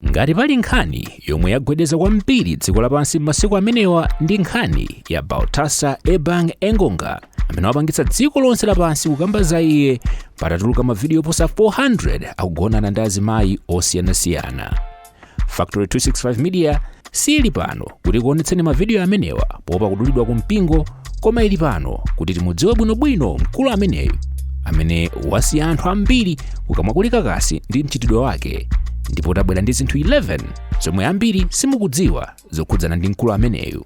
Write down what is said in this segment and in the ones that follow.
ngati pali nkhani yomwe yagwedeza kwambiri dziko lapansi m'masiku amenewa ndi nkhani ya baltasar ebang engonga amene wapangitsa dziko lonse lapansi kukamba za iye patatuluka mavidiyo oposa 400 akugonana ndi azimayi osiyanasiyana factory 265 media Siili pano kuti kuonetseni mavidiyo amenewa poopa kudulidwa ku mpingo, koma ili pano kuti timudziwe bwinobwino mkulu ameneyu amene wasiya anthu ambiri kukamwa kuli kakasi ndi mchitidwe wake ndipo tabwera ndi zinthu 11 zomwe ambiri simukudziwa zokhudzana ndi mkulu ameneyu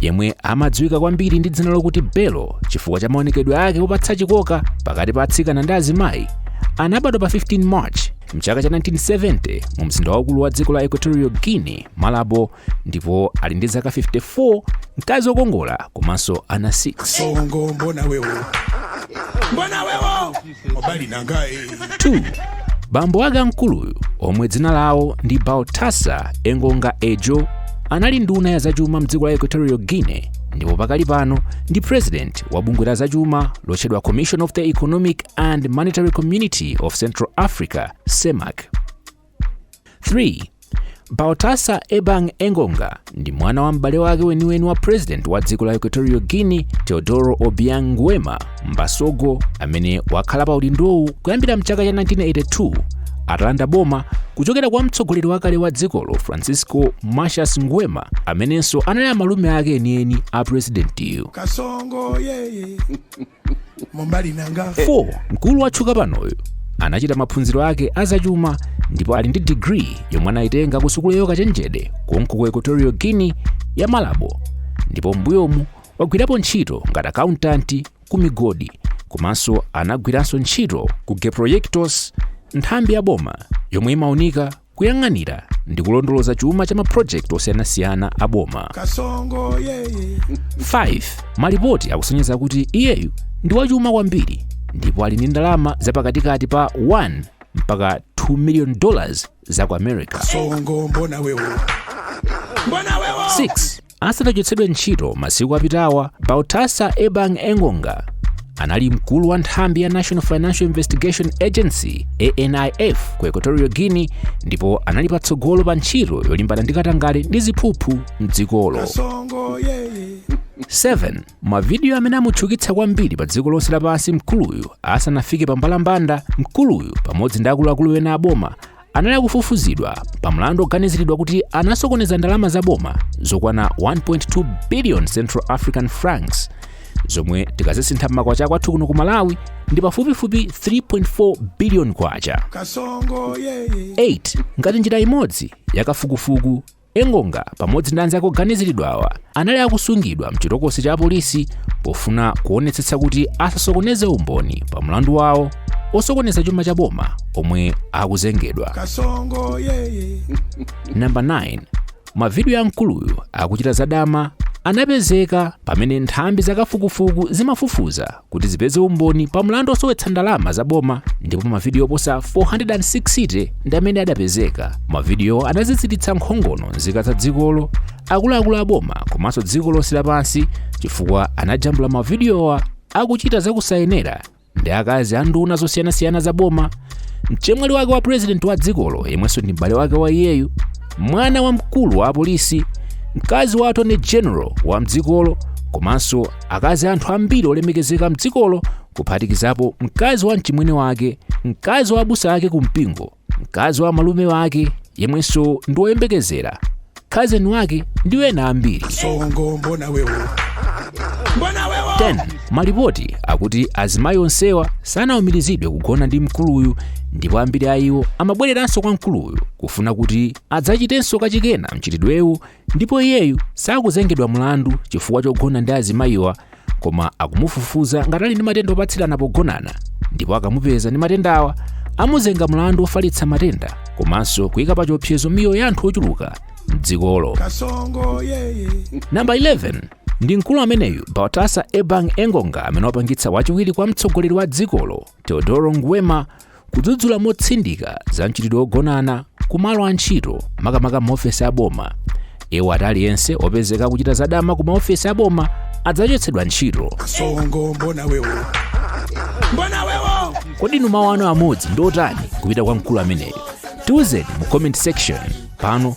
yemwe amadziwika kwambiri ndi dzina lokuti Bello chifukwa cha maonekedwe ake opatsa chikoka pakati pa atsikana ndi azimayi, anabadwa pa 15 March mchaka cha 1970 mu mzinda waukulu wa dziko la Equatorial Guinea, Malabo, ndipo ali ndi zaka 54, mkazi wokongola komanso ana 6. Kasongo mbona wewe. Mbona wewe. Mobali nanga eh. 2 bambo ake a mkuluyu omwe dzina lawo ndi baltasar engonga edjo anali nduna ya zachuma mdziko la equatorial guinea ndipo pakali pano ndi president wa bungwe la zachuma lotchedwa commission of the economic and monetary community of central africa cemac 3 baltasar ebang engonga ndi mwana wa m'bale wake weniweni wa president wa dziko la equatorial guinea teodoro obiang nguema mbasogo amene wakhala pa udindowu kuyambira mchaka cha 1982 atalanda boma kuchokera kwa mtsogoleri wakale wa dzikolo francisco macias nguema amenenso anali a malume ake enieni a presidentiyu Kasongo, yeye. 4 mkulu watchuka panoyu anachita maphunziro ake azachuma ndipo ali ndi digiri yomwe anayitenga ku sukulu ya ukachenjede konko ku equatorial guinea ya malabo ndipo m'mbuyomu wagwirapo ntchito ngati akauntanti ku migodi komanso anagwiranso ntchito ku geproyectos nthambi ya boma yomwe imaunika kuyang'anira ndi kulondoloza chuma cha mapulojekiti osiyanasiyana a boma kasongo yeye 5 malipoti akusonyeza kuti iyeyu ndi wachuma kwambiri ndipo ali ndi ndalama zapakatikati pa 1 mpaka 2 million dollars za ku america kasongo mbona wewe mbona wewe 6 asanachotsedwe ntchito masiku apitawa baltasar ebang engonga anali mkulu wa nthambi ya national financial investigation agency anif ku equatorial guinea ndipo anali patsogolo pa ntchito yolimbana ndi katangale ndi ziphuphu mdzikolo 7 mavidiyo amene amutchukitsa kwambiri pa dziko lonse lapansi mkuluyu asanafike pa mbalambanda mkuluyu pamodzi ndi akuluakulu ena a boma anali akufufuzidwa pa mlandu oganiziridwa kuti anasokoneza ndalama za boma zokwana 1.2 billion central african francs zomwe tikazisintha m'makwacha kwathu kuno ku malawi ndi pafupifupi 3.4 billion kwacha kasongo yeye 8 ngati njira imodzi yakafukufuku Engonga pamodzi ndi anzake oganiziridwawa anali akusungidwa mchitokosi cha apolisi pofuna kuonetsetsa kuti asasokoneze umboni pa mlandu wawo osokoneza chuma cha boma omwe akuzengedwa. Kasongo yeye. Number 9. Mavidiyo a mkuluyu akuchita zadama anapezeka pamene nthambi zakafukufuku zimafufuza kuti zipeze umboni pa mlandu wosowetsa ndalama za boma ndipo mavidiyo oposa 460 ndi amene adapezeka. Mavidiyowo anaziziritsa nkhongono nzika za dzikolo, akuluakulu a boma komanso dziko lonse lapansi chifukwa anajambula mavidiyowa akuchita zakusayenera ndi akazi a nduna zosiyanasiyana za boma, mchemwali wake wa purezidenti wa dzikolo yemwenso ndi m'bale wake wa iyeyu, mwana wa mkulu wa apolisi, mkazi wa attorney general wa mdzikolo komanso akazi a anthu ambiri olemekezeka mdzikolo kuphatikizapo mkazi wa mchimwene wake mkazi wa abusa ake ku mpingo mkazi wa malume wake yemwenso ndi woyembekezera cousin wake ndi ena ambiri kasongo mbona wewo mbona wewo 10 malipoti akuti azimayi onsewa sanaumirizidwe kugona ndi mkuluyu ndipo ambiri a iwo amabwereranso kwa mkuluyu kufuna kuti adzachitenso kachikenanso mchitidwewu ndipo iyeyu sakuzengedwa mlandu chifukwa chogona ndi azimayiwa koma akumufufuza ngati ali ndi matenda opatsirana pogonana ndipo akamupeza ndi matendawa amuzenga mlandu ofalitsa matenda komanso kuyika pa chiopsezo miyoyo ya anthu ochuluka mdzikolo kasongo yeye namba 11 ndi mkulu ameneyu baltasar ebang engonga amene wapangitsa wachiwiri kwa mtsogoleri wa dzikolo Teodoro Nguema kudzudzula motsindika za mchitidwe wogonana ku malo a ntchito makamaka maofesi a boma iwo ati aliyense opezeka akuchita zadama ku maofesi a boma adzachotsedwa ntchito kasongo mbona wewo mbona wewo kodi inu mawu anu amodzi ndi otani kupita kwa mkulu ameneyu tiuzeni mu comment section pano